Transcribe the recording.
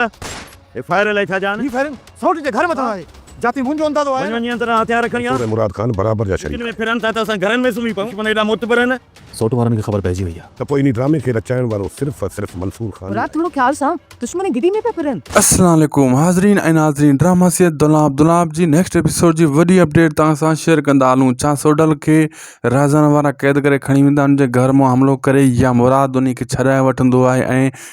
هي fire الائي ڇا جا آهن. هي فائرنگ سئوٽ جي گهر مٿان آهي. جاتين منهنجو اندازو آهي. وڃ وڃ ته نه هٿيار کڻي آ. مراد خان برابر جا شريڪ آهن. ڦرن ٿا ته اسان گهرن ۾ سمهي پئون. دشمن ايڏا معتبر آهن. سئوٽ وارن کي خبر پئجي وئي آ. ته پوء انهي ڊرامي کي رچائڻ وارو صرف ۽ صرف منصور خان ئي مراد آهي. ٿورو خيال سان دشمن گدي ۾ پيا ڦرن. السلام عليڪم حاضرين ۽ ناظرين ڊراما سيد دولاب دولاب جي نيڪسٽ ايپيسوڊ جي وڏي اپڊيٽ توهان سان شيئر ڪندا هلون ڇا سوڍل کي رهزان وارا قيد ڪري کڻي ويندا ان جي گهر مان حملو ڪري يا مراد انهي کي ڇڏائي وٺندو آهي ۽